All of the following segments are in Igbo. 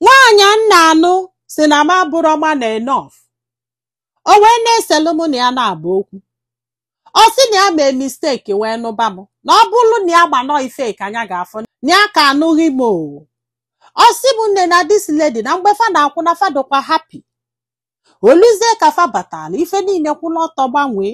nwaanyị m na-anụ sị na m abụrọ man enough o wee na-eselu mụ na ya naabọ okwu ọ sị na ya mee mistake wee nụba m na ọ bụrụ na ya manụ ife ka nya ga-afụ na ya ka anụghị m o ọ sị m nne na this lady na mgbe fa na-akwụ na fa dịkwa happy o luzie ka fa batara ife niile kwụrụ ọtọ gbanwee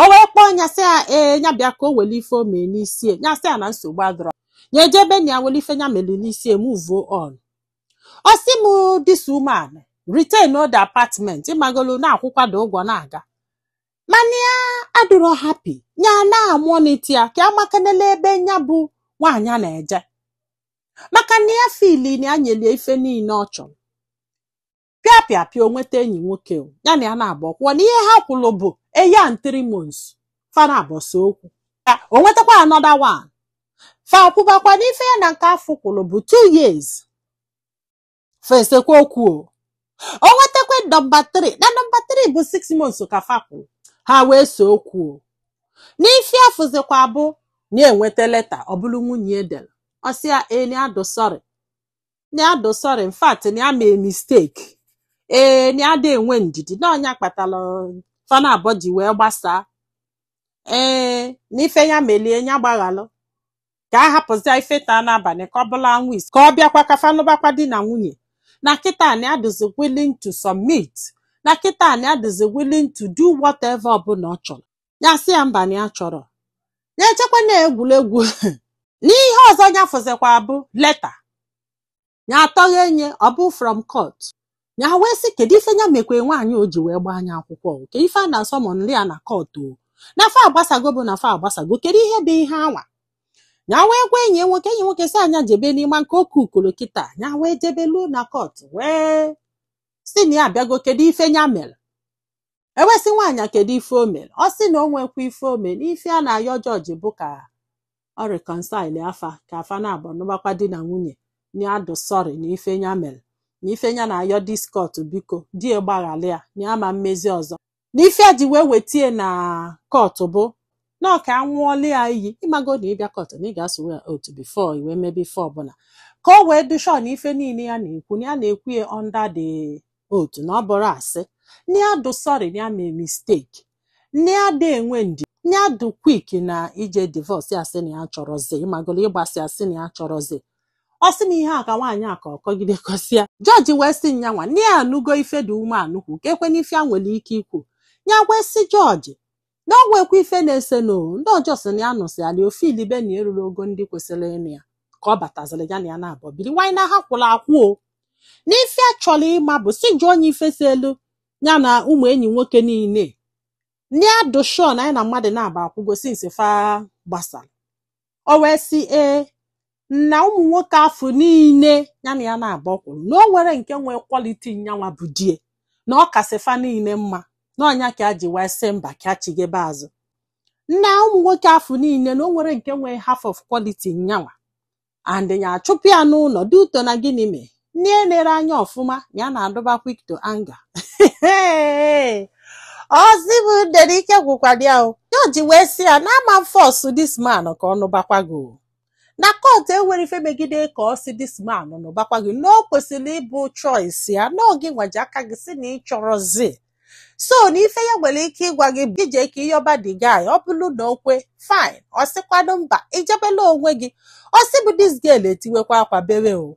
o wee kpọọ nya sị ya ee nya bịa ka o wele ife o mere n'isi ya nya sị ya na nsogbu adịrọ ya ejee be nna ya wele ife nya mere n'isi ya move on ọ sị m this woman retain old apartment ịmagolu na-akwụkwado ụgwọ na-aga mana ya adịrọ happy ya na-amonitor ya ka amakanela ebe nya bụ nwaanyị a na-eje maka na ya feel na ya nyeli ya ife niile ọ chọrọ pịa pịa pịa o nweta enyi nwoke o, ya na ya naabọ kwụwa na ihe ha kwụrụ bụ a year and three months fa naabọ see okwu o nwetakwa another one fa kwụbakwa n'ife ya na nke afụ kwụrụ bụ two years fa esekwa okwu o o nwetakwa nọmba 3 na nọmba 3 bụ 6 months ka fa kwụrụ ha wee see okwu o n'ife ya fụzikwa bụ na ya enweta leta ọ bụrụ nwunye ya dere ọ sị ya na ya dụ sorry na ya dụ sorry in fact na ya mee mistake ee na ya ada enwe ndidi na ọ nya kpatara fa naabọ ji wee gbasaa ee na ife ya meli ya ya gbaghalụ ka a hapụzia ife taa n'abalị ka ọ bụrụ anwụ isi ka ọ bịakwa ka fa nụbakwa di na nwunye na kịta na ya dịzi willing to submit na kịta na ya dịzi willing to do whatever ọbụla ọ chọrọ ya sị ya mba na ya achọrọ ya echekwa na egwuregwu n'ihe ọzọ ya fụzikwa bụ leta ya atọghee nya ọ bụ from court ya wee sị kedu ife ya mekwe nwaanyị o ji wee gbaa nya akwụkwọ o? kedu ife a na-asummonri ya na court o na fa agbasago bụ na fa agbasago kedu ihe bụ ihe anwa ya wee gwa enyi ya nwoke enyi nwoke sị nya jebe n'ime nke oke ukoro kịta ya wee jebe luo na court wee sị na ya abịago kedu ife ya mere e wee sị nwaanyị a kedu ife o mere ọ sị na o nwekwa ife o mere ife ya na-ayọ judge bụ ka ọ reconcile fa ka fa naabọ nụbakwa di na nwunye na ya dụ sorry na ife ya mere na ife ya na-ayọ this court biko di ya gbaghalụ ya na ya ama emezi ọzọ na ife ya ji wee wete ya na court bụ na ọ ka a ṅụọlụ ya iyi ị mago na ị bịa court na ị ga-aswear oath before i wee mebe ife ọbụla ka o wee dụ sure na ife niile ya na-ekwu na ya na-ekwu ya under the oath na ọ bụrọ asị na ya dụ sorry ya mee mistake na ya ada enwe ndidi na ya dụ quick na ije divorce ya sị na ya achọrọzi ịmagolo ịgbasa ya sị na ya achọrọzi ọ sị na ihe a ka nwaanyị a ka ọ kọgide kọsịa judge wee sị nyanwa na ya anụgo ife dị ume anụkwu ka ekwe n'ife ya nwere ike ikwu ya wee sị judge na ọ nwekwa ife na-esenụ ndị ọjọọ sị na ya nụsịala ọ filibe na ya erurọ ogo ndị kwesịrị ịnụ ya ka ọ bataziri ya na ya naabọ biri nwaanyị na ha kwụrụ akwụ o n'ife a chọrọ ịma bụ sị jụọnụ ya ife selu ya na ụmụ enyi nwoke niile na ya dị sure na nya na mmadụ naabọ akwụgo since fa gbasara o wee sị ee na ụmụ nwoke afụ niile ya na ya naabọ kwụrụ na o nwerọ nke nwee quality nyanwa bụ di ye na ọ kasị fa niile mma na ọ nya ka a ji wee sị mba ka a chigebe azụ na ụmụ nwoke afụ niile na o nwerọ nke nwee half of quality nyanwa and ya achụpụ ya n'ụlọ due to na gịnị mee na e nere anya ọfụma ya na-adụba quick to anger ozigbo there ike gwụkwara ya o jọji wee sị ya na ama m force this man ka ọ nụbakwa gị o na court enwerọ ife megide ka ọ sị this man nụbakwa gị na o kwesịrị ịbụ choice ya na ọ gịnwa ji aka gị sị na ị chọrọzi so na ife ya nwere ike ịgwa gị bụ i jee ka ị yọba the guy ọ bụrụ na o kwe fine ọ sịkwanụ mba i jebelu onwe gị ozigbo this girl etiwekwa akwa bewe o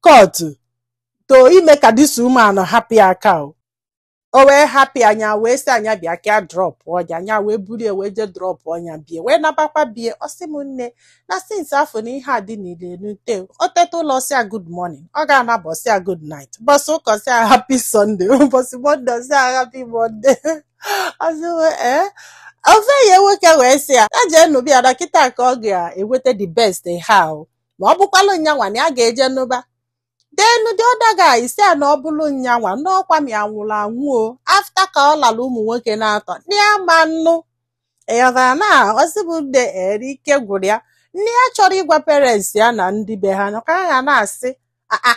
court to ime ka this woman hapụ ya aka o o wee hapụ ya nya wee sị ya nya bịa ka ya drọpụọ nya nya wee buru ya wee jee drọpụọ nya bie wee nabakwa bie ọ sị m nne na since afụ na ihe a dị niile nute o teta ụla ọ sị ya good morning ọ ga-anaba ọ sị ya good night ụbọchị ụka sị ya happy sunday ụbọchị monday sị ya happy monday ọ sị ee ofu enyi ya nwoke wee sị ya ya jee nụba ya na kịta ka ọ ga-enweta the best ha o na ọ bụkwalụ nyanwa na ya ga-eje nụba then the other guy sị ya na ọ bụlụ nyanwa na ọ ka mma ya nwụrụ anwụ o after ka ọ lara ụmụ nwoke naatọ na ya ama nnụ ị ghọtara na ozigbo there ike gwụrụ ya na ya achọrọ ịgwa parents ya na ndị be ha na ka ha na-asị aa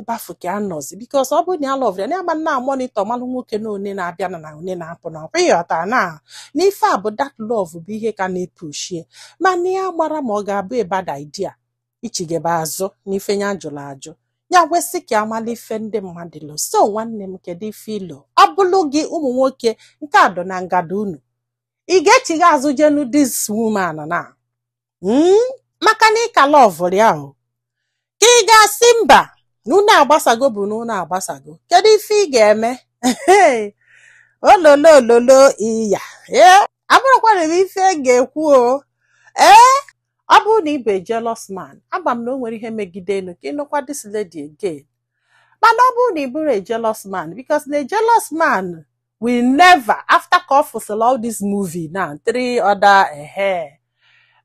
ebe afụ ka a nọzi because ọ bụrụ na ya alọvụrọ ya na ama na monitor malụ nwoke na one na-abịa na na one na-apụ na ọkwa ị ghọta na n'ife a bụ that love bụ ihe ka na-epushie mana ya amarọ ma ọ ga-abụ a bad idea ichigebe azụ n'ife ya jụrụ ajụ ya wee sị ka a malụ ife ndị mmadụ lo so nwanne m kedu ife i lo ọ bụlụ gị ụmụ nwoke nke a dọ na ngada unu ị ga-echigha azụ jee nụ this woman na mm, maka na ị ka lọvụrụ ya o ka ị ga-asị mba na unu agbasago bụ na unu agbasago kedu ife ị ga-eme ololo ololo iya ee a bụrụkwanụ m ife m ga-ekwu o ee ọ bụrụ na ị bụ jealous man ama m na o nwerọ ihe e megidenu ka ị nụkwa this lady again mana ọ bụrụ na ị bụrọ a jealous man because na a jealous man will never after ka ọ fụsịla all this movie na three other ehe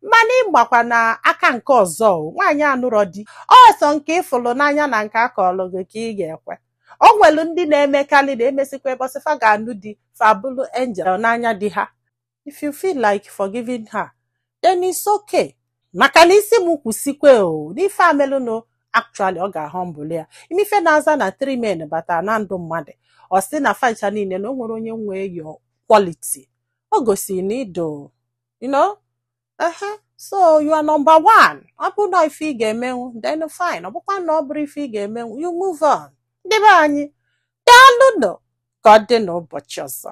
mana ị gbakwa na aka nke ọzọ o, nwaanyị anụrọ di ọ sọ nke ị fụlụ n'anya na nke a kọlụ gị ka ị ga-ekwe o nwelu ndị na-emekarị na e mesịkwa mbọsị fa ga-anụ di fa abụlụ angel n'anya di ha if you feel like forgiving her then it's okay maka na ị sị m kwuo eziokwu o n'ife a melụnụ actually ọ ga-ahụ mbụlụ ya ị ma ife na-aza na three men bata na ndụ mmadụ ọ sị na facha niile na o nwerọ onye nwee your quality o gosi na ido you know ehe so you are number one ọ bụ na ife ị ga-emenwu then fine ọ bụkwa na ọ bụrọ ife ị ga-emenwu you move on ndị be anyị daalụ nụ ka ọ dị n'ụbọchị ọzọ